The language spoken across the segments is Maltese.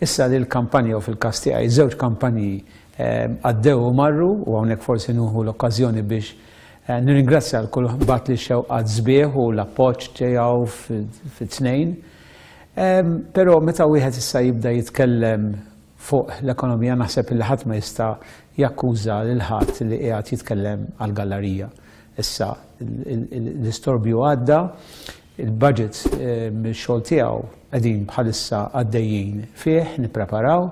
Issa li l-kampanja u fil-każ tiegħi żewġ kampanji għaddew u marru u hawnhekk forsi nuħu l-okkażjoni biex nirringrazzja għal kull bat li xewqat sbieħ u l-appoġġ tiegħu fit-tnejn. Però meta wieħed issa jibda jitkellem fuq l-ekonomija naħseb li ħadd ma jista' jakkuża lil ħadd li qiegħed jitkellem għall-gallarija. Issa l-istorbju għadda, Il-budget mix-xogħol tiegħu qegħdin bħalissa għaddejjin fih, nippreparaw.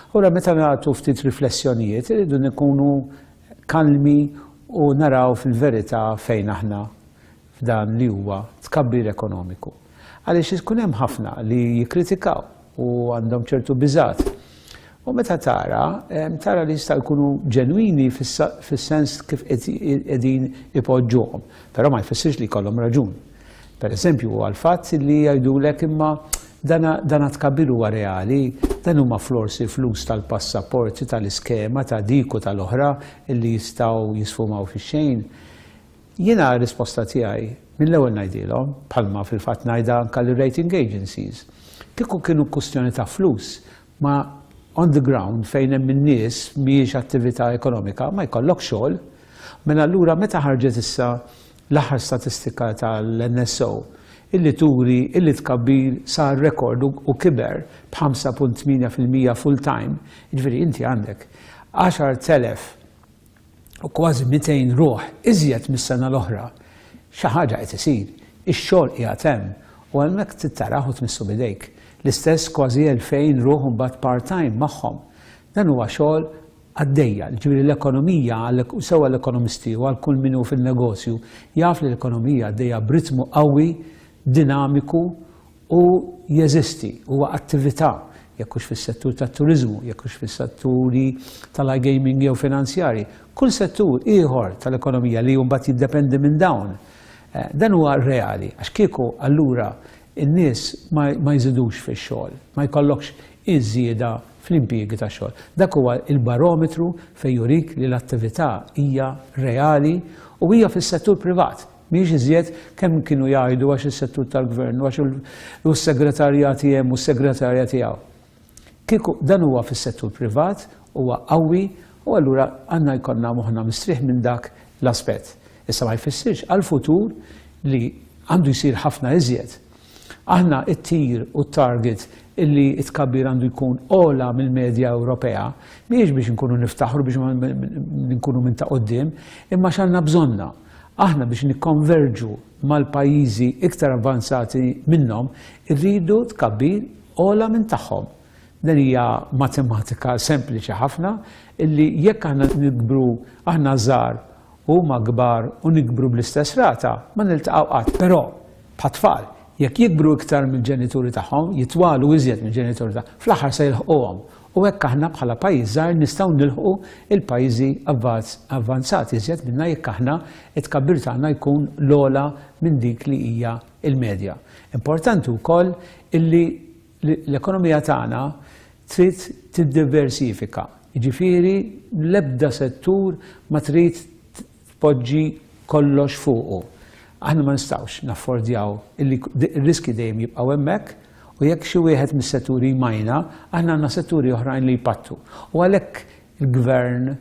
Allura meta nagħtu ftit riflessjonijiet irridu nkunu kalmi u naraw fil-verità fejn aħna f'dan li huwa tkabbir ekonomiku. Għaliex ikun hemm ħafna li jikkritikaw u għandhom ċertu biżat. U meta tara, tara li jista' jkunu ġenwini fis-sens kif qegħdin ipoġġuhom, però ma jfissirx li jkollhom raġun. Per eżempju, huwa l-fatt li jgħidulek imma dana tkabbir huwa reali, dan huma florsi flus tal-passaporti tal-iskema ta' dik u tal-oħra li jistgħu jisfumaw fix-xejn. Jiena r-risposta tiegħi mill-ewwel ngħidilhom, bħalma fil-fatt ngħidha anke lir-rating agencies, kieku kienu kwistjoni ta' flus, ma on the ground fejn hemm in-nies mhijiex attività ekonomika, ma jkollokx xogħol. Mela allura meta ħarġet issa l-aħħar statistika tal-NSO illi turi illi t-tkabbir sar rekord u kiber b'5.8 fil-mija full-time, jiġifieri inti għandek 10,000 u kważi 200 ruħ iżjed mis-sena l-oħra, xi ħaġa qed isir, ix-xogħol qiegħed hemm u hemmhekk trid tarah u tmissu b'idejk. L-istess kważi 2,000 ruħ imbagħad part-time magħhom. Dan huwa xogħol għaddejja, jiġifieri l-ekonomija sew għall-ekonomisti u għal kull min hu fin-negozju jaf li l-ekonomija għaddejja b'ritmu qawwi, dinamiku Hu jeżisti, huwa attività, jekk hux fis-settur tat-turiżmu, jekk hux fis-setturi tal-iGaming jew finanzjarji, kull settur ieħor tal-ekonomija li mbagħad jiddependi minn dawn. Dan huwa reali, għax kieku allura n-nies ma jżidux fix-xogħol, ma jkollokx iż-żieda fl-impjiegi tax-xogħol. Dak huwa l-barometru fejn jurik li l-attività hija reali u hija fis-settur privat. Mhijiex iżjed kemm kienu jgħidu għax is-settur tal-gvern u għax u s-segretarjati hemm u s-segretarja tiegħu. Kieku dan huwa fis-settur privat, huwa qawwi u allura għandna jkollna moħħna mistrieħ minn dak l-aspett. Issa ma jfissirx għall-futur li għandu jsir ħafna iżjed. Aħna t-tir u t-target illi t-tkabbir għandu jkun ogħla mill-medja Ewropea mhijiex biex inkunu niftaħru biex nkunu minn ta' quddiem, imma għax għandna bżonnha. Aħna biex nikkonverġu mal-pajjiżi iktar avvanzati minnhom irridu tkabbir ogħla minn tagħhom. Din hija matematika sempliċi ħafna illi jekk aħna nikbru aħna żgħar u huma kbar u nikbru bl-istess rata ma niltaqgħu qatt. Però, bħat-tfal, jekk jikbru iktar mill-ġenituri tagħhom, jitwalu iżjed mill-ġenituri tagħhom, fl-aħħar se jilħquhom U hekk aħna bħala pajjiż żgħir nistgħu nilħqu l-pajjiżi avvanzati iżjed minna jekk aħna t-tkabbir tagħna jkun l-ogħla minn dik li hija l-medja. Importanti wkoll illi l-ekonomija tagħna trid tiddiversifika, jiġifieri l-ebda settur ma trid tpoġġi kollox fuqu. Aħna ma nistgħux naffordjaw illi r-riskji dejjem jibqgħu hemmhekk u jekk xi wieħed mis-setturi jmajna, aħna għandna setturi oħrajn li jpattu. U għalhekk il-Gvern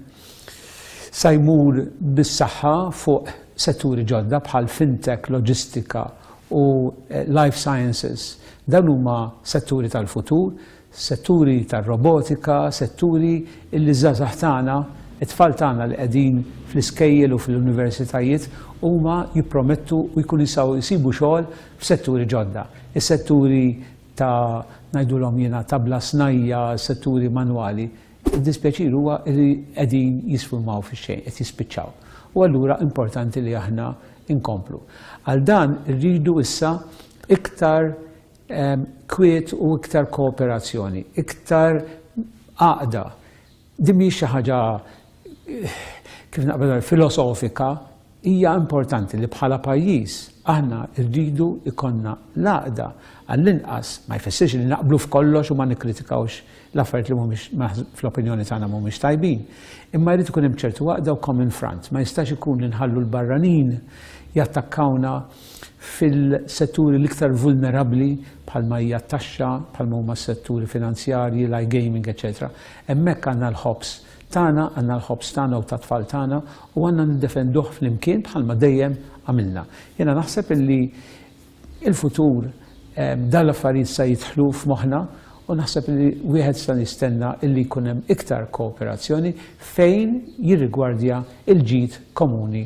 sa jmur bis-saħħa fuq setturi ġodda bħal fintech, loġistika u life sciences. Dawn huma setturi tal-futur setturi tar-robotika, setturi li ż-żgħażagħ tagħna, it-tfal tagħna li qegħdin fl-iskejjel u fl-universitajiet huma jippromettu u jkunu jistgħu jsibu xogħol f'setturi ġodda. Is-setturi ta' ngħidulhom jiena ta' bla snajja', setturi manwali, id-dispjaċir huwa li qegħdin jisfummaw fix-xejn, qed jispiċċaw. U allura importanti li aħna nkomplu. Għal dan irridu issa iktar kwiet u iktar kooperazzjoni, iktar għaqda. Din mhijiex xi ħaġa kif naqbel filosofika, hija importanti li bħala pajjiż aħna rridu jkollna l-għaqda għall-inqas ma jfissirx li naqblu f'kollox u ma nikkritikawx l-affarijiet li mhumiex fl-opinjoni tagħna mhumiex tajbin. Imma jrid ikun hemm ċertu għaqda u common front, ma jistax ikun li nħallu l-barranin jattakkawna fil-setturi l-iktar vulnerabbli bħalma hija t-taxxa, bħalma huma s-setturi finanzjarji, l-iGaming, eċċetera Hemmhekk għandna l-ħobż tagħna, għandna l-ħobż tagħna u tat-tfal tagħna u għandna niddefenduh flimkien bħalma dejjem għamilna. Jiena naħseb illi l-futur dawn l-affarijiet sa jidħlu f'moħħna u naħseb illi wieħed sa jistenna illi jkun hemm iktar kooperazzjoni fejn jirrigwardja l-ġid komuni